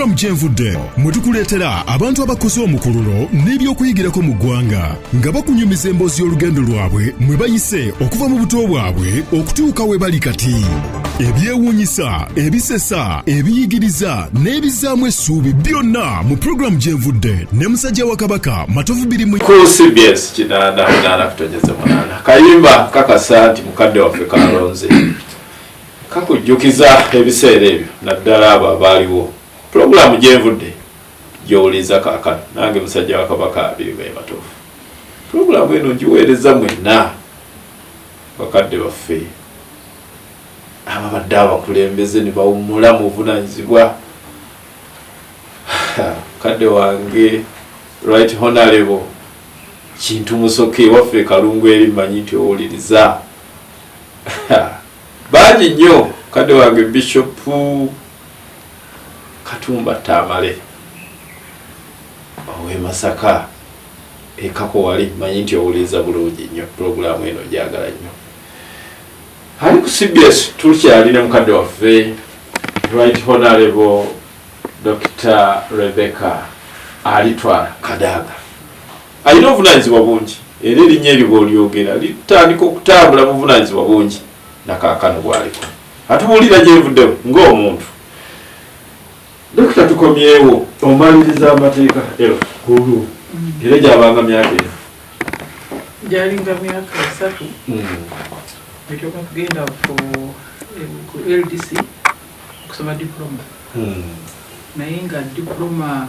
pulogulaamu gyenvudde mwe tukuleetera abantu abakoze omukululo n'ebyokuyigirako mu ggwanga nga bakunyumiza emboozi y'olugendo lwabwe mwe bayise okuva mu buto bwabwe okutuuka we bali kati ebyewuunyisa ebisesa ebiyigiriza n'ebizaamu essuubi byonna mu pulogulaamu gyenvudde ne musajja wa kabaka matovu birimu ku cbs kinaana munaana kutonyeze munaana kayimba kakasa nti mukadde waffe kalonze Kakujjukiza ebiseera ebyo naddala abo abaaliwo. Pulogulaamu gye nvudde gy'owuliriza kaakano nange musajja wa Kabaka abiri be batuufu. Pulogulaamu eno ngiweerezza mwenna bakadde baffe ababadde abakulembeze ne bawummula mu buvunaanyizibwa. Kadde wange Right Honorable Kintu Musoke waffe Kalungu eri mmanyi nti owuliriza. Bangi nnyo kadde wange Bishop Katumba Tamale owe Masaka ekako wali manyi nti owuliriza bulungi nnyo pulogulaamu eno njagala nnyo ali ku cbs tukyali ne mukadde waffe right honorable dr rebecca alitwala kadaaga Alina obuvunaanyizibwa bungi era erinnya eryo bw'olyogera litandika okutambula mu buvunaanyizibwa bungi na kaakano bw'aliko. Atubuulira gye nvuddemu ng'omuntu. Dokita tukomyewo. Omaliriza amateeka el kulu era gyabanga myaka ena. Gyalinga myaka esatu ne tulyoka tugenda ku LDC okusoma dipuloma naye nga dipuloma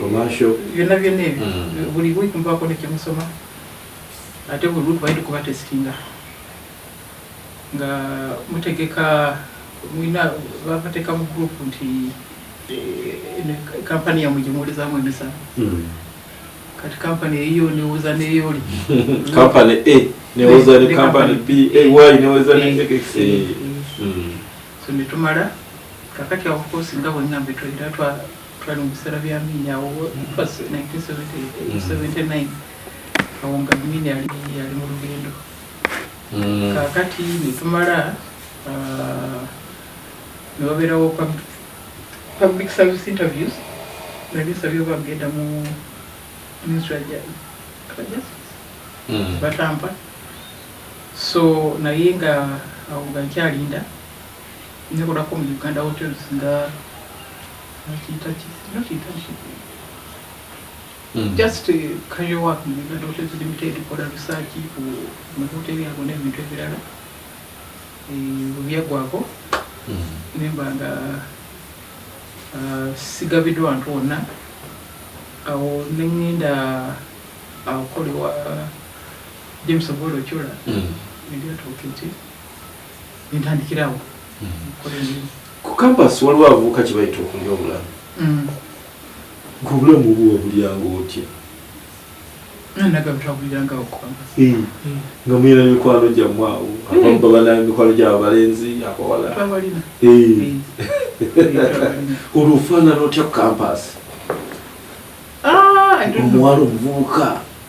commercial byonna byonna ebyo mm. buli week mpako nekyemusoma ate buli week bayite kuba testinga nga mutegeka mwina babateeka mu group nti kampani eh, yamwe gyemuwolezamu emisana mm. kati kampani eyiyo newoza neyoli kampani a newoza ne kampani b ay newoza ne x mm. so netumala kakati awo kosi nga bonna mbetwera twali mu biseera bya Amin awo fa 1979 awo nga Amin yali yali mu lugendo mm. kakati netumala uh, ne babeerawo public service interviews nali nsabye oba ngenda mu ministry ya justice mm. batampa so naye nga awo nga nkyalinda Nekolako mu Uganda hotels nga bakiyita ki sino kiyita ki just uh, carry work mu Uganda hotels limited kola research ku mahoteli ago n'ebintu ebirala bwebyagwako eh, mm. nemba nga uh, sigabiddwa wantu wonna awo nengenda akolewa James Obolo Ochola mm. nendiyatuuka eki entandikirawo ku campus waliwo abavubuka kyebayita okunywa obulamu mm. ngaobulamu obu wabulyanga otya eh, nga muyina mikwano gyammwe awo eh. abababana mikwano gyabo balenzi abawala eh. olwo ofaanana otya ku campus ah, omuwala omuvubuka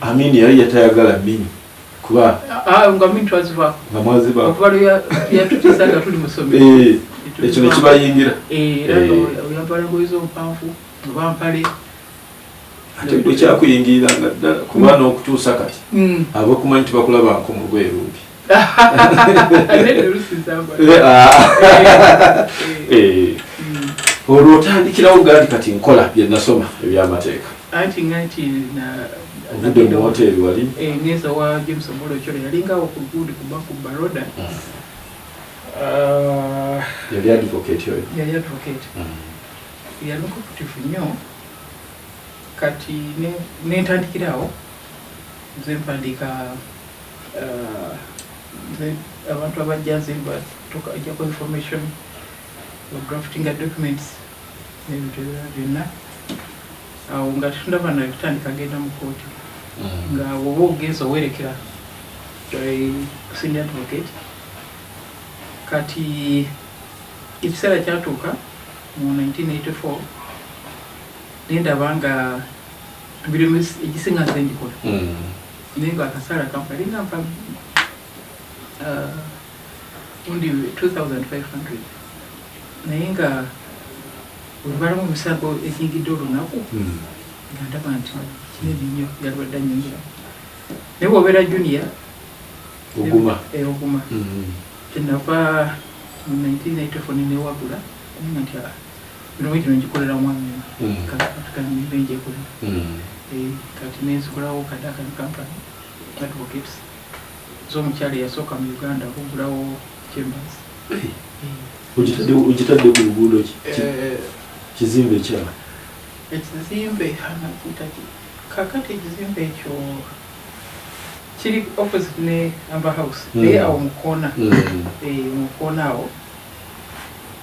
Amin yali yatayagala mini kuba ah, ah, nga mini twaziba nga mwaziba okuba lwe yatutisa nga tuli musomero eh, ekyo ne kibayingira eh, era eh. oyambala ngoye z'obupanvu oba mpale ate bwe kyakuyingirira nga ddala kuba n'okutuusa kati mm. abakumanyi tibakulaba nko mu lweruubi olwo otandikirawo gadi kati nkola byenasoma ebyamateeka anti ngati ovudde mu woteri wali eh, ngeza wa james omolo kyole yalingawo ku luguudi kuba ku baroda mm. ah. yali advocate oyo yali advocate mm. yali mukukutive nnyo kati nentandikirawo nze mpandiika nze abantu abajja nze ajjako information draftinga documents nebintu ebirala byonna awo nga tundaba nayo tutandika genda mu kooti mm. nga woba ogenza owerekera eh, senior advocate kati ekiseera kyatuuka mu 1984 nendaba nga mirimu egisinga nze ndikola mm. naye nga akasaala kange kalinga nka undi 2500 naye nga olubalamu omusango ezingidde olunaku hmm. nga ndaba nti kinene nnyo yalwadde anyumira naye wobeera junia oguma eh, oguma hmm. kyenava mu 1984 nenewagula nga nti Ndobo kino nkikolera mwange mm. katugambe njekole mm. eh, kati nenzikolawo kati akani kampani advocates so omukyala eyasooka mu uganda okugulawo chambers okitadde ku luguudo eh. kizimbe kya ekizimbe anakitaki kakati ekizimbe ekyo kiri opposite ne amba house mm. naye awo mukoona eh, mukoona awo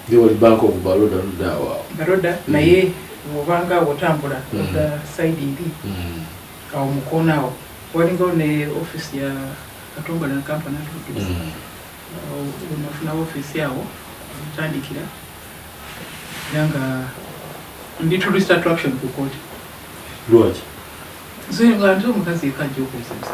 Ndi wali bank of Baroda ludda awo awo. Baroda mm. naye obanga awo otambula mm. ludda side eri mm. awo mu koona awo walingawo ne office ya Katongola na Kampala Advocates. Mm. Uh, unafuna office yawo otandikira era nga ndi tourist attraction ku kooti. Lwaki? Nze nga nze omukazi yekajja okunsabisa.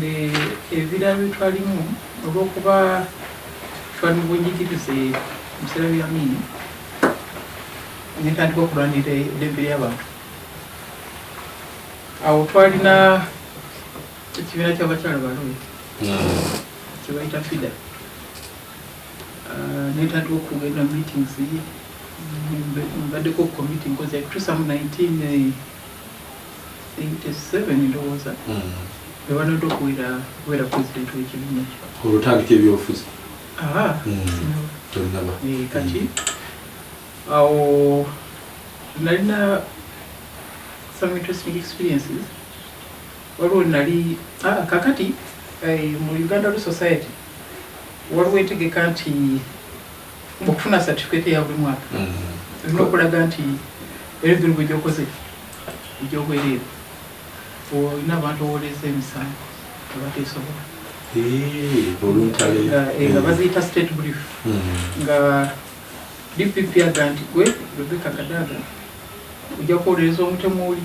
ne ebira byetwalimu olwokuba twali mubunjigirize mubiseera bya Amin netandika okulwanira eddembe lyabantu awo twalina ekibiina kyabakyala baloi kyebayita fida ah, netandika okugenda meetings mbaddeko committee nkozi atusamu 19 87 ndowooza webanadde okuwera kubeera president wekibina olutandika ebyobufuzi tonaba eh, kati mm. awo nalina some interesting experiences waliwo nali ah, kakati eh, mu uganda lu society waliwo entegeka nti okufuna certificate ya buli mwaka olina okulaga nti ebirimu gyokoze egyobwereere olina abantu owoleza emisango abatesobola nga baziyita state brief nga dpp aga nti gwe rebeka kadaga ojja kuwolereza omutemu oli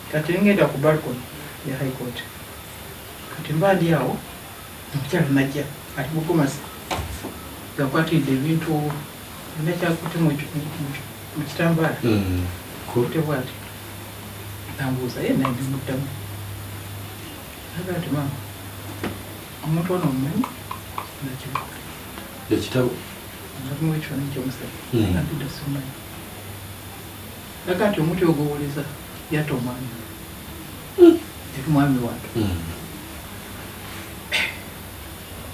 Kati ngenda ku balcony ya high court. Kati mba ndi awo omukyala najja ali mugomazi gakwatiridde ebintu alina kyakutte mu kitambaala mm. kutte bwati nambuuza ye naye ndimuddamu aga ti maama omuntu ono omumanyi nakino ekitabo ndamuwa ekifaananyi kyomusajja mm. nabidda simanyi Kakati omuti oguwuliza yatta omwami yali mwami watu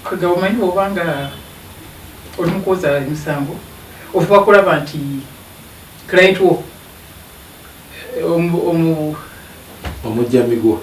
kaga omanyi bwoba nga oli mukuwoza emisango ofuba kulaba nti client wo omu omujjamigwo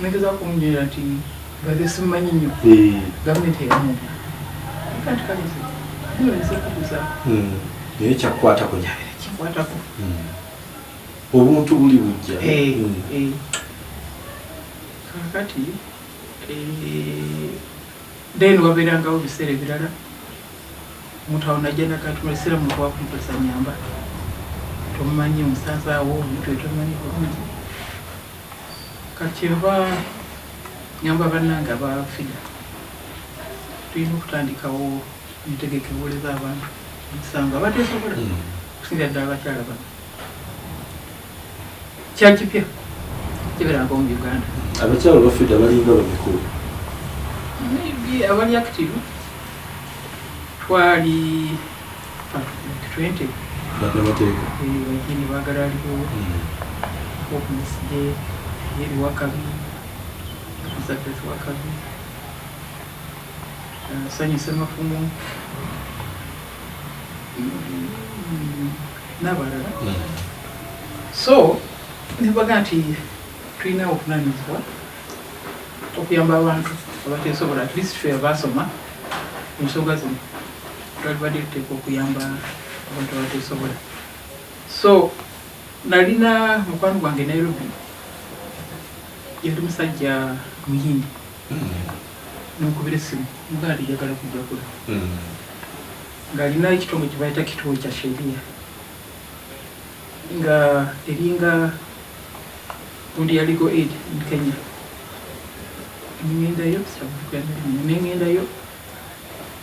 Mwegeza kunjira nti baze simanyi nyo. Eh. Government ya mu. Kati kali se. Nyo nse kubuza. Mm. Nyo cha kwata ko nyale. Cha kwata ko. Mm. Obuntu buli bujja. Eh. Mm. Eh. Kakati eh then wabera nga obisere birala. Mutaona jana kati mwesira mu kwa kumpesa nyamba. Tumanyi musaza wo mtu tumanyi kwa. Kati oba nyamba banange aba fida tulina okutandikawo entegeka ewoleza abantu emisango abatesobola okusingira ddala abakyala bano kyakipya kiberanga mu uganda abakyala bafida balinga bamikulu maybe abali active twali sanyusa amafumu n'abalala so nebaga nti tulina okunanyizibwa okuyamba abantu abatesobola atleast fe abaasoma ensonga zino twalibadde tuteekwa okuyamba abantu abateesobola so nalina mukwano gwange nairobi yali musajja muyindi hmm. nonkubira essimu mugaa tijagala kujakula hmm. ng'alina ekitongo kyebayita kituo kya sheria nga eringa gundi ya legal aid in kenya ningendayo sabukuyanengendayo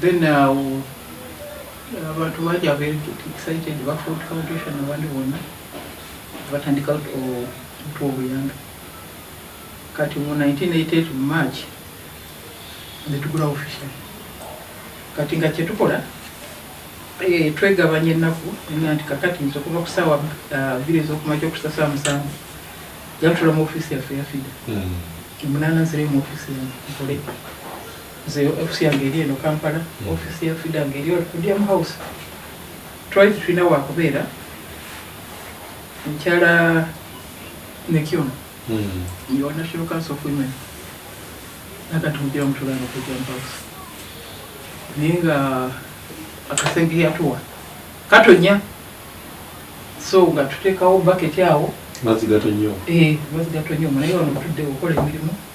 Then awo abantu bangi aberi excited bafuuti foundation abandi bonna batandika omutu obuyambi kati mu 1988 mu march netugula official kati nga kyetukola eh, twegabanya ennaku nanti kakati nze okuva ku saawa ah, bbiri ezokumakya okusasaa musango jantula mu offiisi yaffe yafida hmm. omunana nziremu offiisi yange nkole Nze office yange eri eno Kampala, hmm. office ya FIDA yange eri Odium House. Twali tulina wakubeera mukyala Nekyono hmm. your National Council of Women nakatumugira mutulana Odium House naye nga akasenge yatuwa katonya so nga tuteekawo baketi awo mazi gatonyo eh, mazi gatonyo naye wano batudde okukola emirimu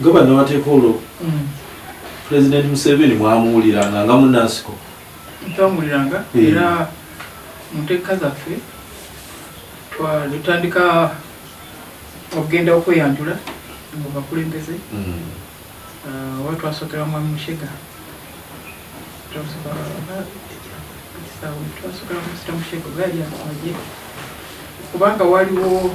nga bannamateeka olwo mm. pulezidenti museveni mwamuwuliranga nga munansiko twamuwuliranga eh. era mu nteeka zaffe twatandika okugenda okweyanjula nga bakulembeze mm. ah, oba twasokera mwami mushega twasokera musita mushega oba yali akomaje kubanga waliwo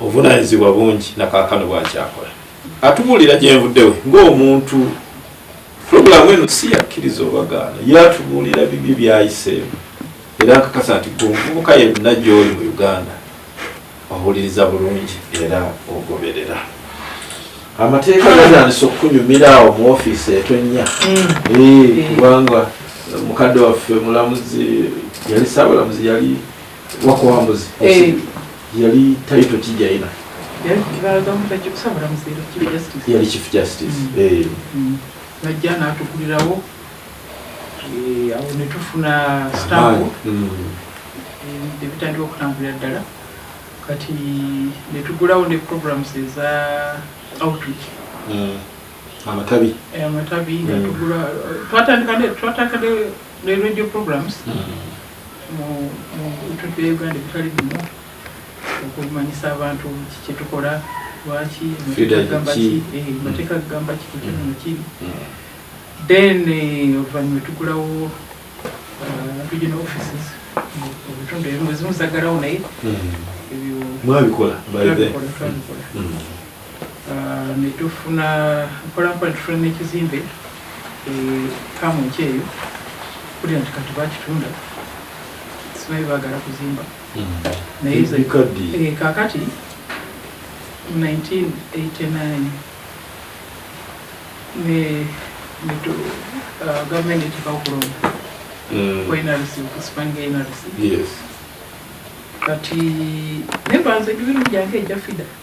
obuvunaanyizibwa bungi nakaakano bwakyakola atubuulira gyenvuddewe ng'omuntu pulogulaamu eno si yakkiriza obagaana yatubuulira bibi byayiseemu era nkakasa nti gwe omuvubuka yenna gy'oli mu uganda owuliriza bulungi era ogoberera amateeka gatandisa okukunyumira awo mu ofiisi etonnya mm. eh, kubanga mukadde waffe mulamuzi yali saabalamuzi yali wakowa mbuzi eh. yali tayito kijaina yali chief justice mm. eh. mm. najja natukulirawo eh, awo netufuna stamp mm. ebitandika okutambulira ddala kati netugulawo ne programs eza outreach amatabi amatabi twatandika ne radio programs mu mu bintu bya Uganda ebitali bimu okumanyisa abantu ki kye tukola lwaki Freedom amateeka gamba ki? ki eh, amateeka gamba ki ku kino nakiri then eh, oluvannyuma tugulawo uh, regional offices mu mu bitundu ebimu ezimu zaggalawo naye ebyo mwabikola by then twabikola twabikola Mm. ne tufuna mpolampola ne tufuna n'ekizimbe kamu nkyeyo kulira nti kati bakitunda simanyi bagala kuzimba naye kakati 1989 ne uh, gavumenti eteekawo kulonda mm. ku nrc kusipanga nrc kati nebanza ebibiru byange ejja fida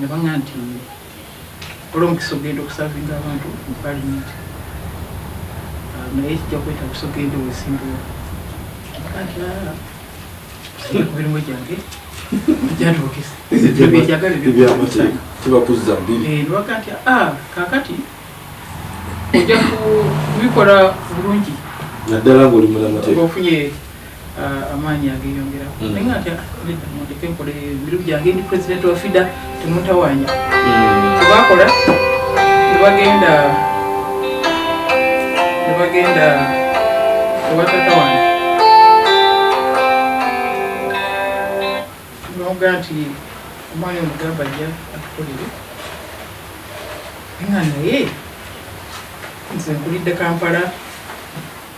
Nabanga nti olwo omukisa ogenda okusavinga abantu mu palimenti ah, naye kijja kweta kusa ogende wesimbiwa ah, ku mirimu gyange gyatuukisa ebyajagala ebyakuzza bbiri eh, nwaga nti ah, kakati ojja kubikola bulungi naddala ngaoli mulamateeka ofunye uh, amaanyi ageyongerako mm. naye nga ntya nedda mundeke nkole emirimu gyange ndi president wa fida temutawanya mm. tebakola nebagenda nebagenda ewatata wange noga nti omwana omugamba ja atukolere nga naye nze nkulidde kampala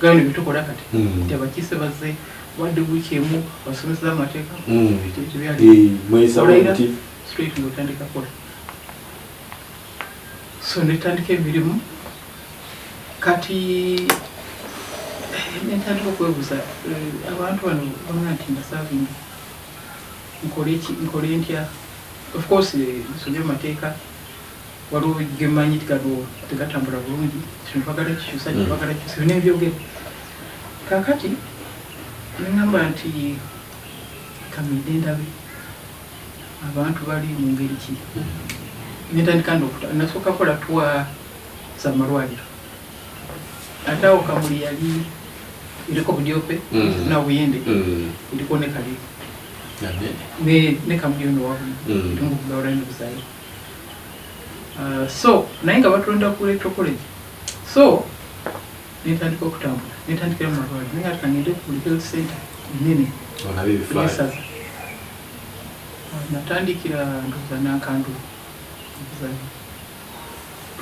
gano byetukola kati nti abakiise bazze wadde wiiki emu basomeseza amateeka tebyaliolaira straight ngaotandika kola so netandika emirimu kati netandika okwebuza eh, abantu bano bamuna nti mbasavinga nkole ntya of course eh, nsomye amateeka waliwo gemanyi galiwo tegatambula bulungi kino twagala kikyusa kino twagala kikyusa byona ebyogere kakati nengamba nti kamide ndabe abantu bali mu ngeri ki netandika nokuta nasooka kola twa za malwaliro ate awo kamuli yali iriko budyope mm. nawuyende mm. iriko nekali nekamuli ono wabuli mm. tungukugaurani buzaire uh, so naye nga batulonda ku electoral college so netandika okutambula netandikira mu malwaliro naye ati kangende ku buli health center enene esaza uh, natandikira ndoza nankandu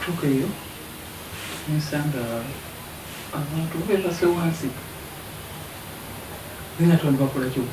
okutuuka eyo nsanga abantu bebasewansi naye nga tondibakolakiwa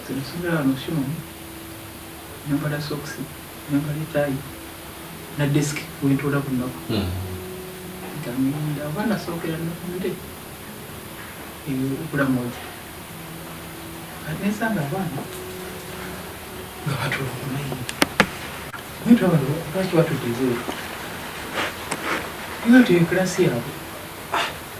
Nze nasigala mu shown nambala sokisi nambala etaayi na desk wentoola ku nnaku nga ngenda oba nasookera nnakunde okulamuoja kati nensanga abaana nga batula omunayi naye twabano lwaki batudde zeeru nga nti eklasi yaabwe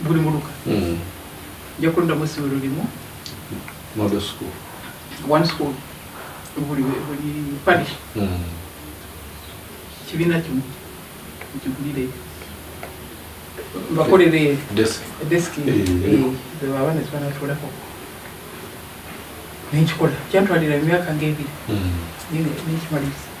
buli muluka mm. nja kulondamu essomero limu model school one school buli parish mm. kibiina kimu nkigulireyo mbakolere deski eh, eh, eh. bwebaba nezibanatulako nenkikola kyantwalira emyaka ngaebiri mm. nekimaliriza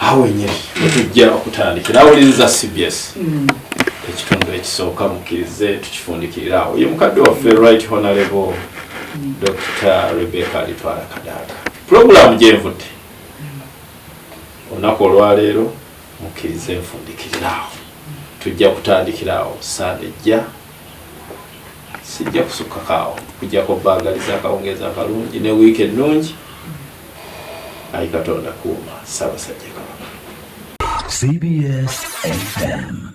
awo enyeri wetujja okutandikira awuliriza cbs hmm. ekitundu ekisooka mukkirize tukifundikirira awo ye mukadde waffe right honalebo hmm. dr rebecca alitwala kadaaga pulogulaamu gyenvudde hmm. olunaku olwaleero mukkirize nfundikirira awo tujja kutandikira awo sande jja sijja kusukkako awo kujjako baagaliza akawungeezi akalungi ne wiiki ennungi ayi katonda kuuma ssabasajja kabaka cbs fm